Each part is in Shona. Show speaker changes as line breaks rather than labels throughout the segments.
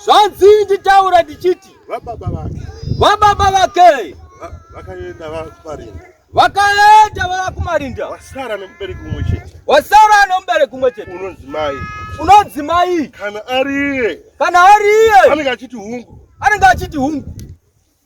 zvanzi nditaura ndichiti vababa vake vababa vake vakaenda vakumarinda vakaenda vakumarinda wasara nemubereki
umwe chete wasara nemubereki
umwe chete unonzi mai unonzi mai kana ariye
kana ariye
anenge achiti hungu
anenge achiti hungu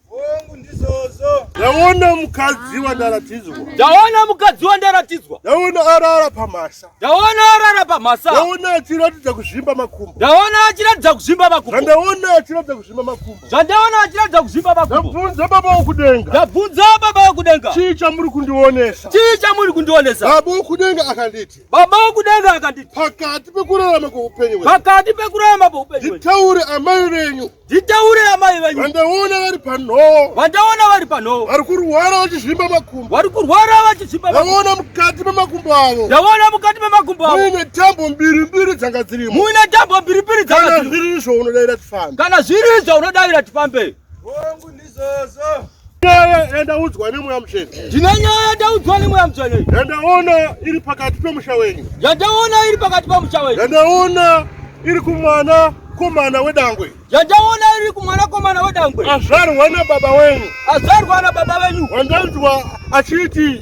Hongu ndizvozvo. Ndaona mukadzi
wandaratidzwa. Ndaona mukadzi wandaratidzwa. Ndaona arara pamhasa. Ndaona arara pamhasa. Ndaona achiratidza kuzvimba makumbo. Ndaona achiratidza kuzvimba makumbo. Zvandaona achiratidza kuzvimba makumbo. Zvandaona achiratidza kuzvimba makumbo. Ndabvunza baba wokudenga. Ndabvunza baba wokudenga. Chii chamuri kundionesa? Chii chamuri kundionesa? Baba wokudenga akanditi. Baba wokudenga akanditi. Pakati pekurarama kweupenyu hwenyu. Pakati pekurarama kweupenyu hwenyu. Nditaure amai venyu. Nditaure amai venyu. Vandaona vari panhowo. Vandaona vari panhowo. Vari kurwara vachizvimba makumbo. Vari kurwara vachizvimba makumbo. Ndaona mukati memakumbo avo. Ndaona mukati memakumbo avo. Muine tambo mbiri mbiri dzanga dzirimo. Muine tambo mbiri mbiri dzanga dzirimo. Kana zviri izvo unodaira tifambe. Kana zviri izvo unodaira tifambe. Hongu
ndizvozvo. Nyaya yandaudzwa
nemweya mutsvene. Ndine nyaya yandaudzwa nemweya mutsvene. Yandaona iri pakati pemusha wenyu. Yandaona iri pakati pemusha wenyu. Yandaona iri kumwana komana wedangwe. Yandaona iri kumwana komana wedangwe. Azvarwa nababa wenyu. Azvarwa nababa wenyu. Wandanzwa achiti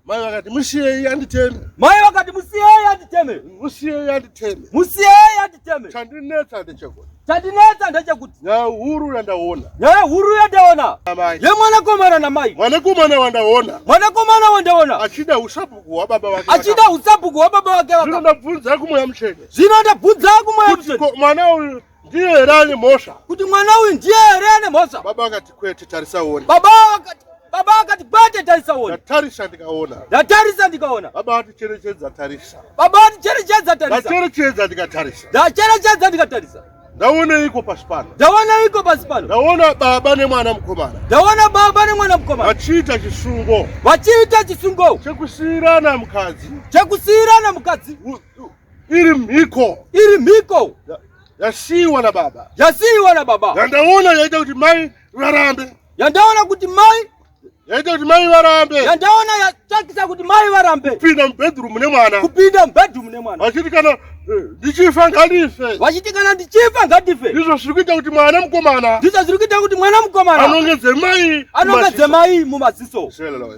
Mai vakati musiyei anditeme. Mai vakati musiyei anditeme. Musiyei anditeme. Musiyei anditeme. Chandinetsa ndechekuti. Chandinetsa ndechekuti. Nyaya huru yandaona. Nyaya huru yandaona. Amai. Ye
mwanakomana na mai. Mwanakomana wandaona.
Mwanakomana wandaona. Achida usapuku wa baba wake. Achida usapuku wa baba wake. Zvino ndabvunza kumweya mutsvene. Zvino ndabvunza kumweya mutsvene. Kuti mwana uyu ndiye here ane mhosva kuti mwana uyu ndiye here ane mhosva baba akati kwete tarisa uone baba akati baba
akati kwete tarisa uone ndatarisa ndikaona
ndatarisa ndikaona baba ati cherechedza tarisa baba ati cherechedza tarisa ndacherechedza
ndikatarisa ndacherechedza ndikatarisa ndaoneiko pasi
pano ndaoneiko pasi pano ndaona baba nemwana mukomana ndaona baba nemwana mukomana vachiita chisungo vachiita chisungo chekusiyirana mukadzi chekusiyirana mukadzi U, u. Iri mhiko. Iri mhiko. Yasiiwa na baba. Yasiiwa na baba. Yandaona yaita kuti mai varambe. Yandaona kuti
mai yaita kuti mai varambe. Yandaona yatakisa kuti mai varambe. Kupinda mubedroom ne
mwana. Kupinda mubedroom ne mwana. Vachiti kana eh, ndichifa ngadife. Vachiti kana ndichifa ngadife. Ndizvo zviri kuita kuti mwana mukomana. Ndizvo zviri kuita kuti mwana mukomana. Anongedze mai.
Anongedze mai mumaziso. Shelelo.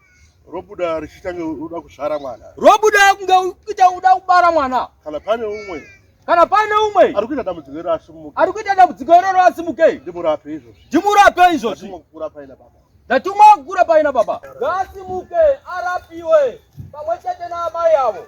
robuda richiita
uda kuzvara mwana robuda kunge
kuita uda kubara mwana kana pane umwe
kana pane
umwe ari kuita dambudziko iro asimuke
ari kuita dambudziko iroro
asimuke ndimurape izvozvi
ndimurape izvozvi
ndatumwa paina baba
ndatumwa kukura
paina baba ngaasimuke arapiwe pamwe chete naamai avo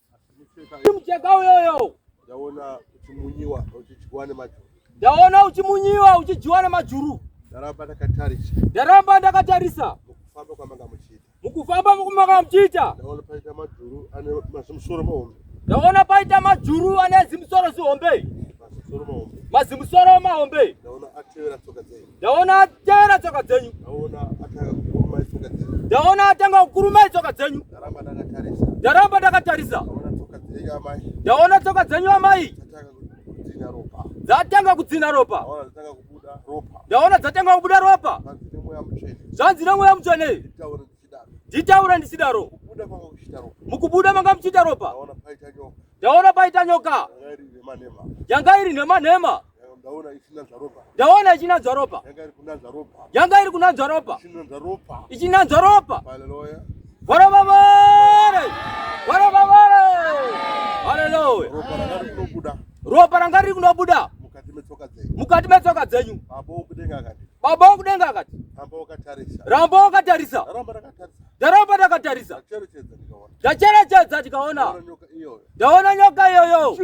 Mcheka uyoyo. Ndaona
uchimunyiwa uchidyiwa nemajuru. Ndaona uchimunyiwa
uchidyiwa nemajuru. Ndaramba
ndakatarisa. Ndaramba ndakatarisa.
Mukufamba kwamanga
muchiita. Mukufamba kwamanga
muchiita. Ndaona paita majuru
ane mazimusoro mahombe. Ndaona paita
majuru ane zimusoro zihombe. Mazimusoro mahombe.
Mazimusoro mahombe.
Ndaona atevera tsoka
dzenyu. ndaona atera
tsoka dzenyu
ndaona atanga kukurumai
tsoka dzenyu
ndaramba ndakatarisa ndaona tsoka dzenyu
amai
dzatanga kudzina
ropa
ndaona dzatanga kubuda
ropa
zvanzi nemweya mutsvene
nditaura ndichidaro
mukubuda manga muchiita
ropa
ndaona paita nyoka
yanga iri nhema nhema
ndaona ichinanzva ropa yanga iri kunanzva ropa ichinanzva ropa
varavavare varavavare haleluya
ropa ranga riri
kunobuda
mukati metsoka dzenyu baba wokudenga akati ramba wakatarisa ndaramba ndakatarisa ndacherechedza ndikaona ndaona nyoka iyoyo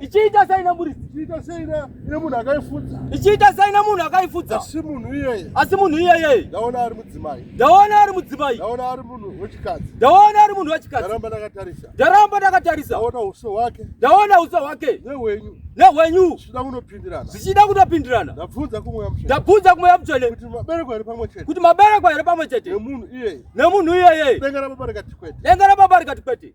ichiita
saina muridzi ichiita saina ine munhu akaifudza ichiita saina munhu
akaifudza asi munhu iyeye
asi munhu iyeye
ndaona ari mudzimai
ndaona ari mudzimai
ndaona ari munhu
wechikadzi ndaona ari munhu wechikadzi
ndaramba ndakatarisa
ndaramba ndakatarisa
ndaona uso
hwake
ndaona uso
hwake nehwenyu
nehwenyu zvichida kunopindirana zvichida
kunopindirana ndabvunza
kumweya mutsvene
ndabvunza kumweya
mutsvene kuti mabereko here pamwe
chete kuti mabereko here pamwe chete
nemunhu iyeye nemunhu iyeye denga rababa rikati kwete
denga rababa rikati kwete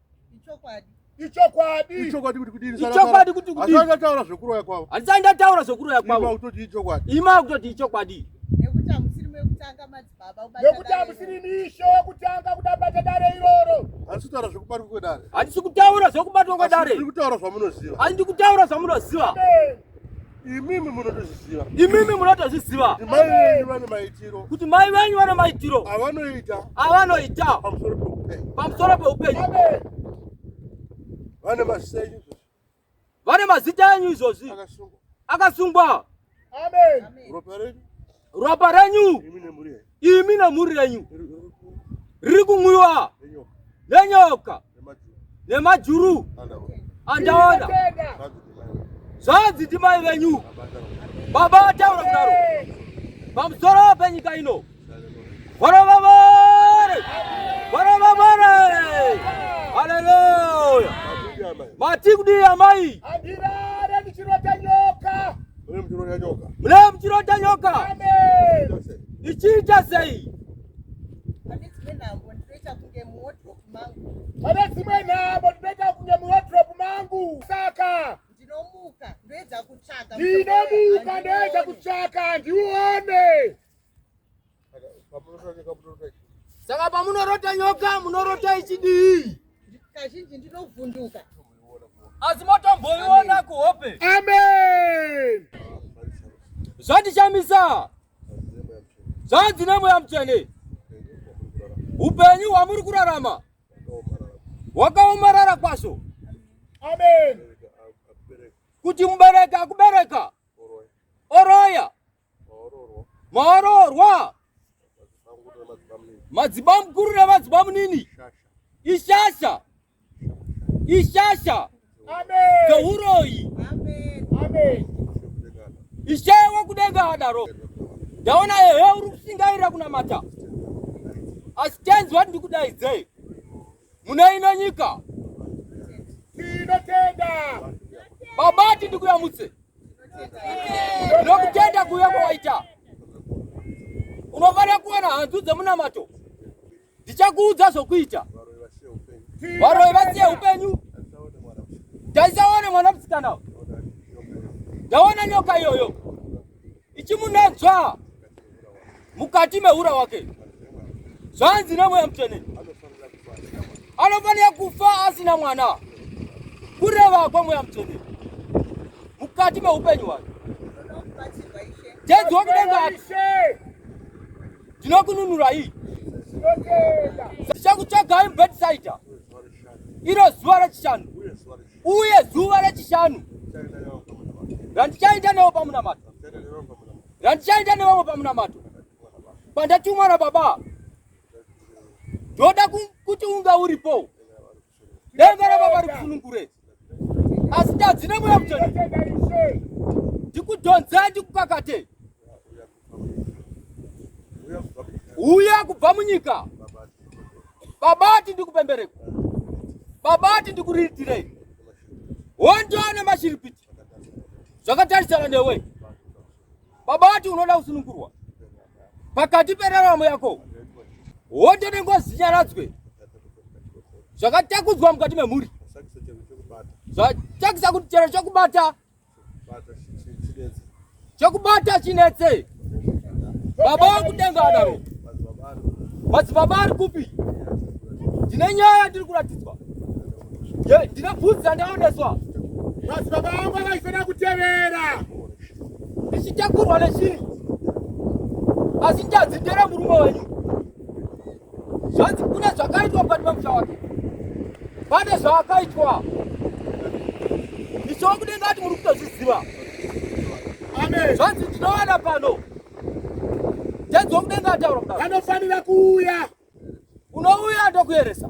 ichokwadi
ichokwadi kuti kudini ichokwadi kuti kudini asanga taura
zvekuroya
kwavo asanga taura zvekuroya
kwavo ima kutoti ichokwadi
ima kutoti ichokwadi
nekuti amusiri
mekutanga madzibaba ubata nekuti amusiri misho
yekutanga kuda bata dare iroro asi taura zvekubatwa
kwedare asi kutaura
zvekubatwa kwedare ndikutaura zvamunoziva
asi ndikutaura
zvamunoziva
imimi munotozviziva imimi munotozviziva kuti mai venyu vane
maitiro kuti mai venyu vane maitiro avanoita
avanoita
pamusoro peupenyu vane mazita enyu
izvozvi vane mazita enyu izvozvi
akasungwa amen
ropa renyu ropa
renyu imi nemhuri yenyu riri kumwiwa nenyoka nemajuru andaona zvanzi ndimai venyu baba vataura kudaro pamusoro penyika ino varovavare varovavare haleluya matikudii amai Mlee mchirota nyoka. Mlee
mchirota nyoka. Ichiita
sei?
Pane dzimwe nhamo ndinoita kunge muwardrobe mangu saka ndinomuka ndoedza
kutsvaka ndinomuka ndoedza kutsvaka ndione
Saka pamunorota nyoka munorota ichidii? Kazhinji
ndinovhunduka. Asi
motomboiona kuhope.
Amen. Zvandishamisa.
Zvanzi nemweya mutsvene. Upenyu hwamuri kurarama wakaomarara kwazvo. Amen. Kuti mubereka akubereka oroya maororwa madzibaba mukuru nemadzibaba munini ishasha ishasha
dzouroyi
ishewe kudenga adaro ndaona ehe uri kusingairira kunamata asi tenzi wati ndikudaidzei mune ino nyika tinotenda
baba
ti ndikuyamutse ndinokutenda kuuya kwawaita unofanira kuwana hanzu dzemunamato ndichakuudza zvokuita varoyi vasiye upenyu ndaisaone mwana musikana ndaona nyoka iyoyo ichimunanzva mukati mehura wake zvanzi nemweya mutsvene anofanira kufa asina mwana kureva kwemweya mutsvene mukati meupenyu hwake jedzwa kudenga ati ndinokununurai ndichakutsvagai mbetisaita iro zuva rechishanu Uye zuva rechishanu randichaenda newo pamunamato, randichaenda nevamwe pamunamato, pandatumwa naBaba, ndoda kuti unga uripo. Denga raBaba rikusunungure, asi tadzine mweya mutende, ndikudhonzei, ndikukakate uya kubva munyika babati ndikupembereko babati ndikuriitirei hondo nemashiripiti zvakatarisana newe babati unoda kusunungurwa pakati peraramo yako hondo nengozi nyaradzwe zvakatakudzwa mukati memhuri zvachakisa kuti chero chokubata chokubata chinetse baba wakudenga adaro madzibaba ari kupi ndine nyaya yandiri kuratidzwa ndine bvudzi yandaoneswa madzibaba
vangu avaifanira kutevera
ndichitakurwa nechii asi njadzi ndere murume wenyu zvanzi kune zvakaitwa mukati memusha wake pane zvaakaitwa ndichova kudenga ati muri kutozviziva
amen zvanzi tinowana
pano tenzi wokudenga ataura kudaro anofanira kuuya unouya ndokueresa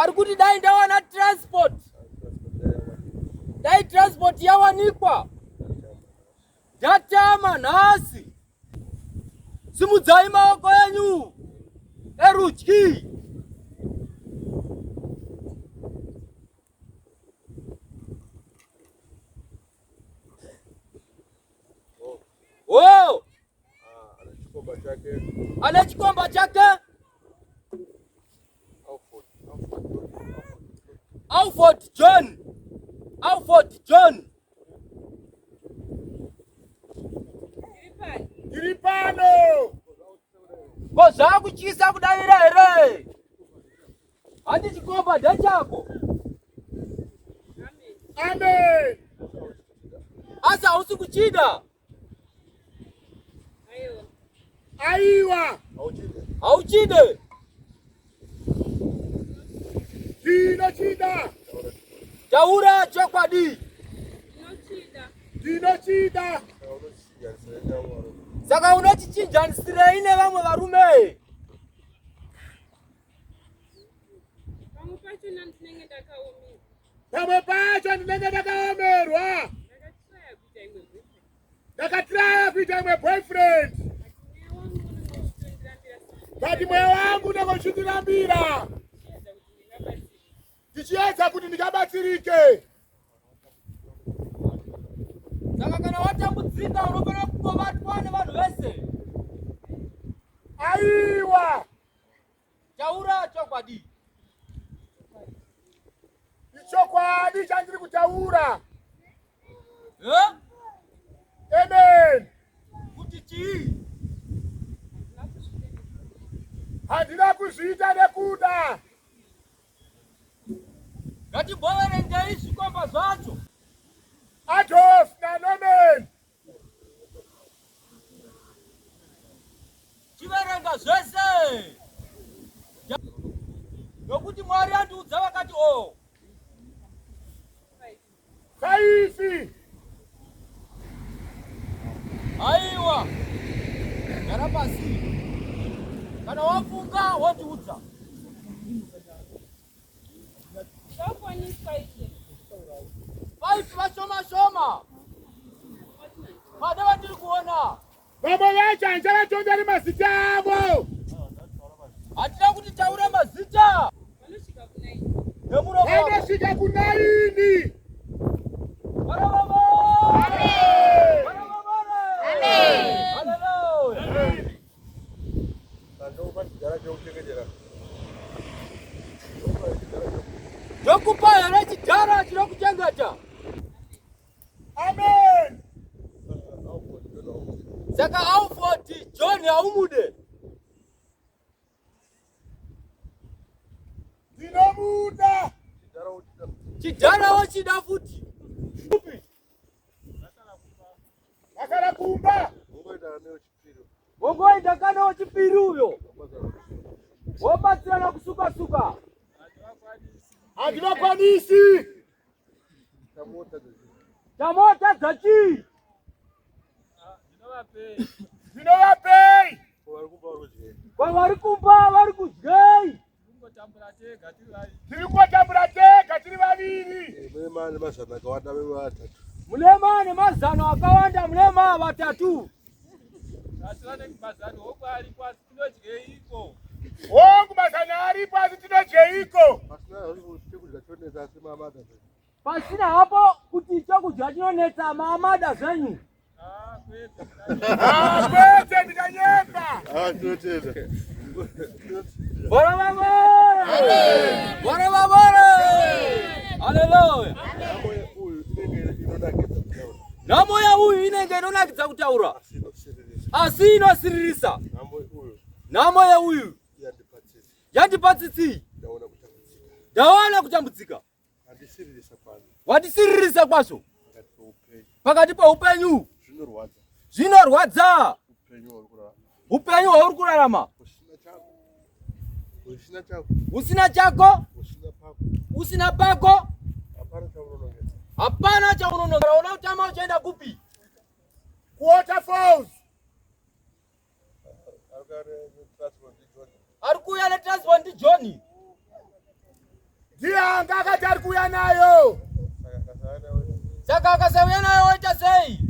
ari kuti dai ndawana transport dai transport yawanikwa ndatama nhasi simudzai maoko enyu erudyi Oh! Ana chikomba chake. Alford John. Alford John.
Tiri pano.
Ko zvakutyisa kudavira here? Hadi chikomba ndachako.
Amen.
Asa hausi kuchida. Aiwa.
Aiwa.
Hauchide.
Hauchide. Ndinochida. Taura
chokwadi. Ndinochida.
Ndinochida.
Saka unochichinjanisirei nevamwe varume?
pamwe pacho ndinenge ndakaomerwa ndakatiraya kuita imwe boyfriend but mweya wangu ndakochitirambira ndichiedza kuti ndikabatsirike
saka kana watambudzika unofanira kutobatwa nevanhu vese
aiwa
Taura chokwadi.
Ichokwadi chandiri kutaura. Huh?
Amen. Kuti chii?
Handina kuzviita nekuda.
Ngatiboverengei zvikomba zvacho.
Adolf naNorman
Chiverenga zvese nokuti Mwari andiudza vakati o oh.
kaifi
aiwa gara pasi kana wafunga wondiudza Vaiti vashoma shoma. Vada vatiri kuona. Baba vacho
hanzi vatomberi mazita avo.
Hatida kuti taura mazita.
Vanosvika kunaini. Vanosvika kunaini.
Ndokupa here chidhara chinokuchengeta?
Amen.
Saka aufoti John haumude?
Ndinomuda.
Chidhara wochida futi? Upi?
Akala kumba. Ungoita nayo Wongoenda
kana wechipiri uyo wobatsirana kusuka suka.
Hativakwanisi.
Tamota dzachii?
Zvinovapei.
Kwavari kumba vari kudyei?
tiri kotambura tega tiri vaviri
mulema ane mazano akawanda mulema vatatu
hongu mazano aripo asi tinodyeiko
Pasina hapo kuti chokudya chinonetsa maamada zvenyu. Ah,
kwete ndikanyemba. Ah, totenda.
Bora baba. Bora baba. Haleluya. Namo ya huyu inenge inonakidza kutaura. Asi inosiririsa. Namo ya huyu. Yandipatsitsi. Ndaona kutambudzika. watisiririsa kwazvo pakati peupenyu zvinorwadza upenyu hwauri kurarama usina chako usina pako hapana chaunonongera una utama uchaenda kupi kuwaterfalls ari kuuya netransfer ndi johni ndiye
anga akati ari kuuya nayo
saka akasauya nayo woita sei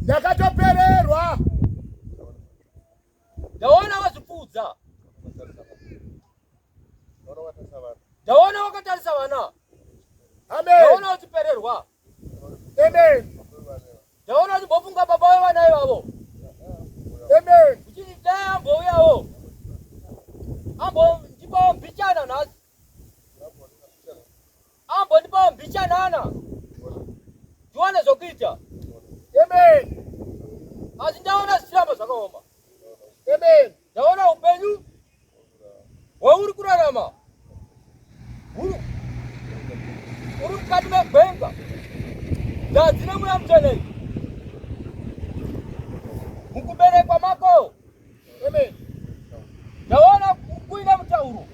ndakatopererwa
ndaona wazvipfuudza ndaona wakatarisa vana
ndaona uchipererwa
Amen. Ndaona uchimbofunga baba wevana ivavo.
Amen. Uchiti dai
ambouyawo. Ambo ndipawo mbichana nhasi. Ambo ndipawo mbichanana. Ndiwane zvokuita. Amen. Asi ndaona zvichiramba zvakaoma. Amen.
Ndaona upenyu
hwauri kurarama huru uri mukati megwenga ndadzi nemweya mutsvene mukuberekwa mako amen ndaona kuine mutauro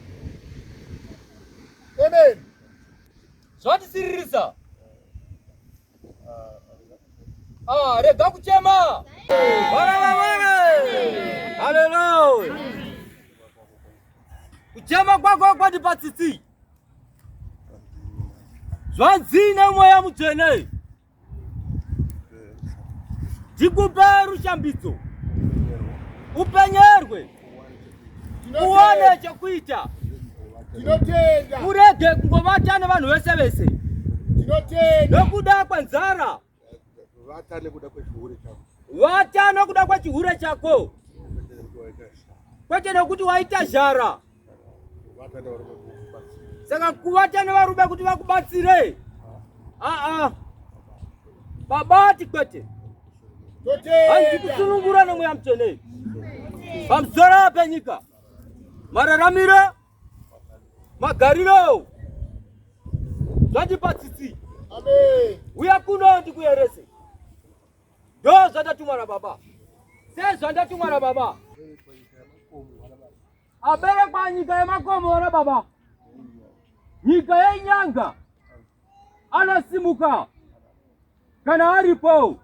amen zvandisiririsa
Ah, rega kuchema. Bwana bwana. Haleluya. Kuchema kwako kwandipa tsitsi. Zvanzi nemweya mutsvene. Ndikupe rushambidzo. Upenyerwe. uone chekuita
tinotenda urege
kungovata nevanhu vese vese tinotenda
nokuda kwenzara
vata nekuda kwechihure chako vata nokuda kwechihure chako kwete nokuti waita zhara saka kuvata nevarume kuti vakubatsire aa babati kwete hanzi kusunungura nemweya mutsvene pamusoro penyika mararamiro magariro zvandipa tsitsi
uya kuno
ndikuyerese ndo zvandatumwa nababa sezvandatumwa nababa aberekwa nyika yemakomo wana baba nyika yenyanga anasimuka kana aripo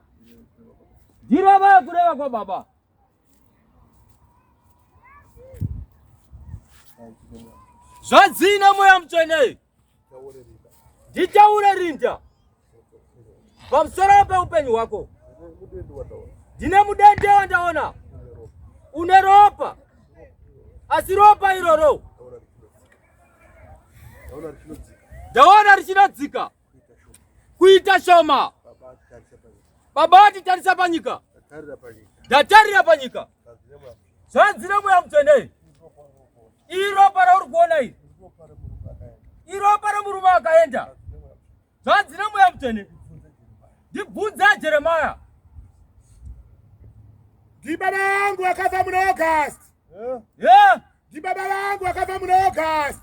ndirava kureva kwa baba zvadzina mweya mutsvene nditaure rinda pamusoro peupenyu hwako ndine mudende wandaona une ropa asi ropa iroro ndaona richinodzika kuita shoma baba vati tarisa panyika ndatarira panyika zvanzi nemoya mutsvene iropa rauri kuona iri iropa remurume akaenda zvanzi nemoya mutsvene ndibvunze jeremaya
ndibaba vangu vakafa muna august ndibaba vangu vakafa muna august